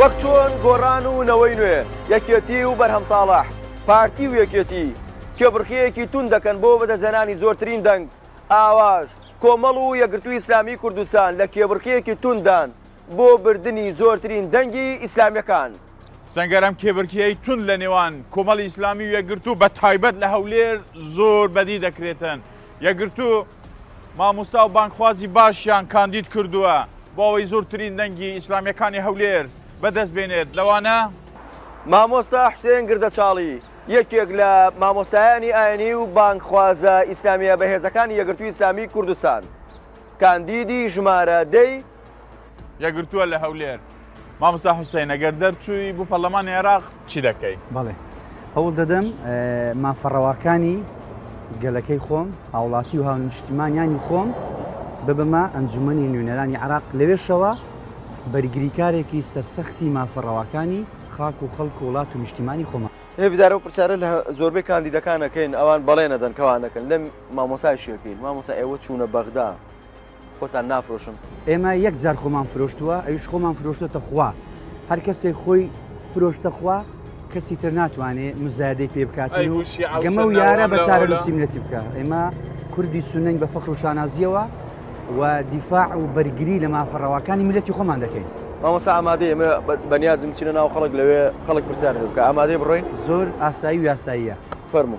وەک چۆن گۆڕان و نەوەی نوێ، یەکێتی و بەرهەم ساڵح، پارتی و یەکێتی، کێبڕکێیەکی توند دەکەن بۆ بەدەستهێنانی زۆرترین دەنگ، ئاواش کۆمەڵ و یەکگرتووی ئیسلامیی کوردستان لە کێبڕکێیەکی تونددان. بۆ بردنی زۆرترین دەنگی ئیسلامیەکان. سەنگەر ئەم کێبرکێی توند لە نێوان کۆمەڵی ئیسلامی و یەکگرتوو بە تایبەت لە هەولێر زۆر بەدی دەکرێتن یەکگرتوو ماموستا و بانگخوازی باشیان کاندید کردووە بۆ ئەوەی زۆرترین دەنگی ئیسلامیەکانی هەولێر بەدەست بێنێت لەوانە مامۆستا حسێن گردەچاڵی یەکێک لە مامۆستایانی ئاینی و بانگخوازە ئیسلامیە بەهێزەکانی یەگرتووی ئیسلامی کوردستان کاندیدی ژمارە دەی یەگرتووە لە هەولێر مامۆستا حوسین ئەگەر دەرچووی بوو پەرلەمانی عێراق چی دەکەی بەڵێ هەوڵ دەدەم مافەڕەواکانی گەلەکەی خۆم هاوڵاتی و هاونیشتیمانیانی خۆم ببمە ئەنجومنی نوێنەرانی عراق لەوێشەوە بەرگریکارێکی سەرسەختی مافەڕەواکانی خاک و خەڵک و وڵات و نیشتیمانی خۆمان هێبدارە و پرسیارە لە زۆربەی کاندیدەکانەکەین ئەوان بەڵێنەدەن کەوانەکەن لەم مامۆسای شێکەین مامۆسا ئێوە چوونە بەغدا خۆتان نافرۆشن. ئێمە یەک جار خۆمان فرۆشتووە ئەویش خۆمان فرۆشتۆتە خوا هەر کەسێک خۆی فرۆشتە خوا کەسی تر ناتوانێ مزایدەی پێ بکات و گەمە و یارە بە چارە نووسیمنەتی بکە ئێمە کوردی سنەنگ بە فەخر و شانازیەوە و دیفاع و بەرگری لە مافە ڕەواکانی ملەتی خۆمان دەکەین مامەسا ئامادە ئێمە بەنیازم چینە ناو خەڵک لەوێ خەڵک پرسیار بکە ئامادەی بڕۆین زۆر ئاسایی و یاساییە. فەرموو.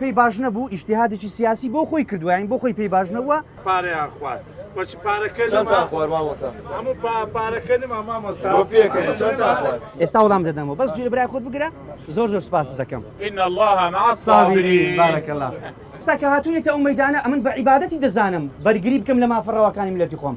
پێی باش نەبوو ئیشتیهادێکی سیاسی بۆ خۆی کردووە یانی بۆ خۆی پێی باش نەبووە پارەیان خوارد بەچی پارەکە چەندتان خوارد مامۆستا هەموو پا- پارەکە نما مامۆستا بۆ پێکەنی چەندتان خوارد ئێستا وەڵام دەدەمەوە بەس جوێ برای خۆت بگرە زۆر زۆر سپاست دەکەم ان الله مع الصابرين بارک الله ئێستا کە هاتوونەتە ئەو مەیدانە ئەمن بە عیبادەتی دەزانم بەرگری بکەم لە مافە ڕەواکانی میللەتی خۆم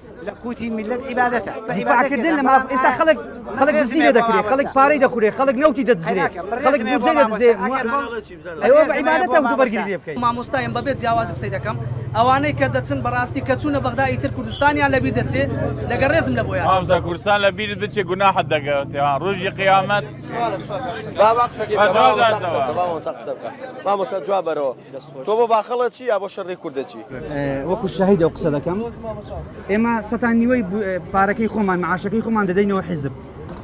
لە قوتی میلەت عیبادەتە دیفاعکردن لە ماف ئێستا خەڵک خەڵک دزی لێ دەکرێت خەڵک پارەی دەخورێت خەڵک نەوتی دەدزرێت خەڵک بودجە لێ دەدزێت ئەوە بە عیبادەتە وتو بەرگری لێ بکەیت مامۆستایم بەبێت جیاوازی قسەی دەکەم ئەوانەی کە دەچن بەڕاستی کە چوونە بەغدا ئیتر کوردستانیان لەبیر دەچێت لەگە ڕێزم لە بۆیان هاوزا کوردستان لە بیرت بچێ گوناحت دەگەوێت ڕۆژی قیامەت بابا قسەکەی بابا قسە بکە. مامۆستا جواب بەرەوە تۆ بۆ باخەڵە چی یا بۆ شەڕی کوردە چی وەکو شەهید ئەو قسە دەکەم ئێمە سەتان نیوەی پارەکەی خۆمان معاشەکەی خۆمان دەدەینەوە حیزب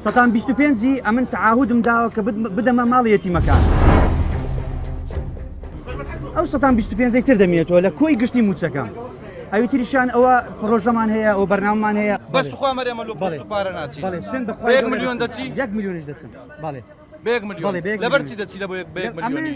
سەتان 25 ئەمن تعاهودم داوە کە بدەمە ماڵی یەتیمەکان ئەو سەتان 25 تر دەمێتەوە لە کۆی گشتی موچەکە ئەوی تریشان ئەوە پرۆژەمان هەیە ئەو بەرنامان هەیە بەس خوا مەرێمە لۆ پارە ناچی میلیۆن دەچی یەک میلیۆنش دەچن بەڵێ بێک میلیۆن لەبەرچی دەچی لە بۆ یەک بێک میلیۆنی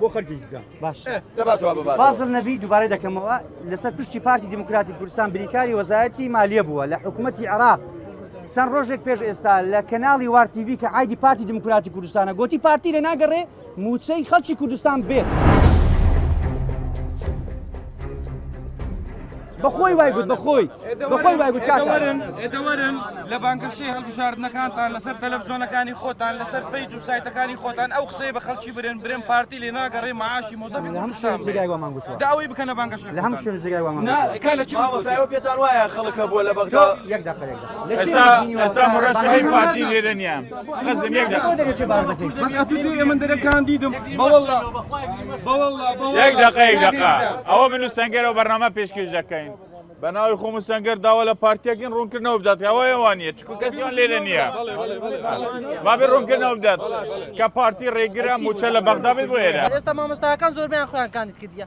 بۆ خەرکی بکە باش فازل نەبی دووبارە دەکەمەوە لەسەر پشتی پارتی دیموکراتی کوردستان بریکاری وەزارەتی مالیە بووە لە حکوومەتتی عراق چەند ڕۆژێک پێش ئێستا لە کەناڵی وارتیV کە ئایدی پارتی دیموکراتی کوردستانە گوتی پارتی لە ناگەڕێ موچەی خەڵکی کوردستان بێت. بەخۆی وای گوت بەخۆی بەخۆی وای گوت کاکەوەرن ئێدەوەرن لە بانگەشەی هەڵبژاردنەکانتان لەسەر تەلەڤزیۆنەکانی خۆتان لەسەر پیج و سایتەکانی خۆتان ئەو قسەی بە خەڵکی برێن برێن پارتی لێ ناگەڕێ معاشی مۆزەفی کوردستان داوای بکەنە بانگەشە لە هەم شوێن جێگای وامان لە چی پێتان وایە خەڵکە بووە لە بەغدا یەک دەقەیەک ئێستا ئێستا مڕەشەی پارتی لێرە نییە خەزم یەک دەقە یەک دەقە یەک دەقە ئەوە من و سنگەرەوە بەرنامە پێشکەش دەکەین بە ناوی خۆم سنگەر داوا لە پارتیەکەین ڕوونکردنەوە بدات ئەوەیەوان نیە چکو کەسیان لێرە نییە بابێ ڕوونکردنەوە بدات کە پارتی ڕێگرە موچە لە بەغدا بێت بۆێرە ئێستا مامۆستاکان زۆربیان خۆیان کاندید کردە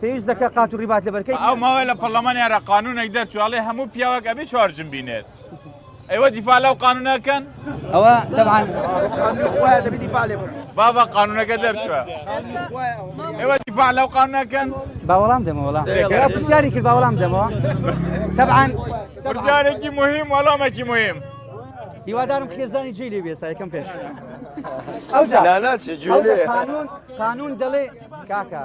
پێویست دەکە قات و ڕیبات لە بەرکەی ئەو ماوەی لە پەرلەمانی عێراق قانونێک دەرچواڵێ هەموو پیاوەک ئەبێ چوار جن بینێت ئەوە دیفاع لەو قانونەکەن ئەوە تەبان بابا قانونەکە دەرچوە ئێوە دیفاع لەو قانونەکەن با وەڵام دەمەوەڵا پرسیاری کرد با وەڵام دەمەوە تەبان پرسیارێکی مهم وەڵامێکی مهم هیوادارم خێزانی جێ لێ بێستا یەکەم پێش ئەو قانون قانون دەڵێ کاکە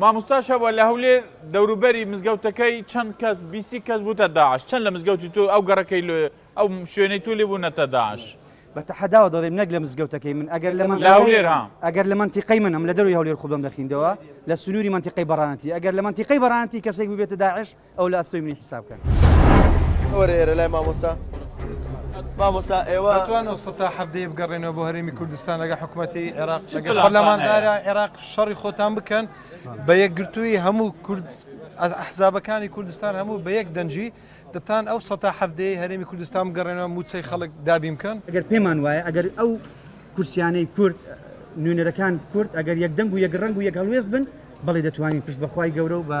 ماموستا شەبە لە هەولێر دەوروبەری مزگەوتەکەی چەند کەس بیسی کەس بوتە داعش چەند لە مزگەوتی تو ئەو گەڕەکەی لۆ ئەو شوێنەی تو لێ بوونەتە داعش بە تەحەداوە دەڵێم نەک لە مزگەوتەکەی من ئەگەر لە من لە هەولێر ها ئەگەر لە منتیقەی منم لە دەروی هەولێر خوبم دەخیندەوە لە سنووری منتیقەی بەڕانەتی ئەگەر لە منتیقەی بەڕانەتی کەسێک ببێتە داعش ئەو لە ئەستۆی منی حیساب کەن. وەرە ئێرە لای مامۆستا. مامۆستا ئێوە ئەتوان ئەو سەتا حەڤدەیە بگەڕێنەوە بۆ هەرێمی کوردستان لەگە حکومەتی عێراق لەگە پەرلەمانتارە عێراق شەڕی خۆتان بکەن بە یەکگرتووی هەموو کورد ئەحزابەکانی کوردستان هەموو بە یەک دەنجی دەتان ئەو سەتا حەڤدەیە هەرێمی کوردستان بگەڕێنەوە موچەی خەڵک دابین بکەن ئەگەر پێمان وایە ئەگەر ئەو کورسیانەی کورد نوێنەرەکان کورد ئەگەر یەکدەنگ و یەک ڕەنگ و یەک هەڵوێست بن بەڵێ دەتوانین پشت بەخوای گەورە و بە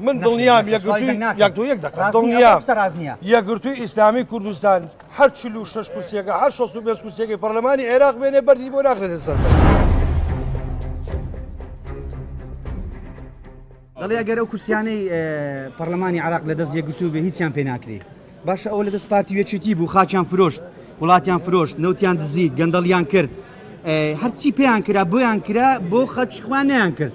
من دڵنیام یەکگرتووی ئیسلامی کوردستان هەر چل و شش کورسیەکە هەر شەست و پێ کورسیەکەی پەرلەمانی عێراق بێنێ بەری بۆ ناخێتە سەر. دەڵێ ئەگەر ئەو کورسیانەی پەرلەمانی عراق لە دەست یەکگرتوو بێ هیچیان پێ ناکری باشە ئەو لە دەست پارتی وێچێتی بوو خاچیان فرۆشت وڵاتیان فرۆشت نەوتیان دزی گەندەڵیان کرد هەرچی پێیان کرا بۆیان کرا بۆ خەچخوانیان کرد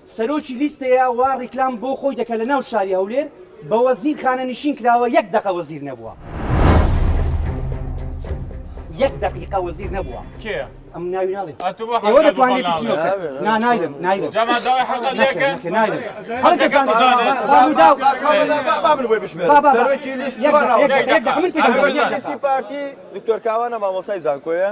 سەرۆکی لیستەیە وا ڕیکلام بۆ خۆی دەکە لە ناو شاری هەولێر بە وەزیر خانەنیشین کراوە یەک دەقە وەزیر نەبووە یەک دەقیقە وەزیر نەبووە کێ ئەم ناوی ناڵێ ئەوە دەتوانێت نا نایلم نایلم پارتی دکتۆر کاوانە مامۆسای زانکۆیە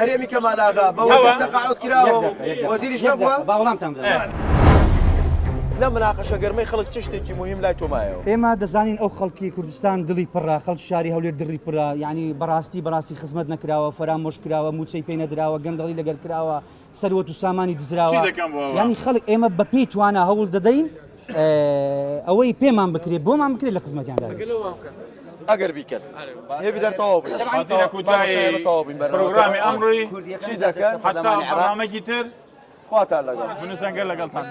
هەرێمی کەمالاغا بەوەقعوت کرا وەزیری شە بووە باوەڵامتان لە مناقەشە گەرمەی خەڵک چ شتێکی مهم لای تۆمایەوە ئێمە دەزانین ئەو خەڵکی کوردستان دڵی پڕا خەڵ شاری هەولێر دڕی پرا ینی بەڕاستی بەڕاستی خزمەت نەکراوە فەرامۆش کراوە موچەی پێ نەدراوە گەندەڵی لەگەر کراوە سەروەت و سامانی دزراوە یانی خەڵک ئێمە بە پێی توانە هەوڵ دەدەین ئەوەی پێمان بکرێت بۆمان بکرێت لە خزمەتیاندا ئەگەر بیکەن هێبی دەرتەوە بڕۆگرامی ئەمڕۆی چی دەکەن حتامەکی تر خواتان لەگەڵ منسەنگە لەگەڵتان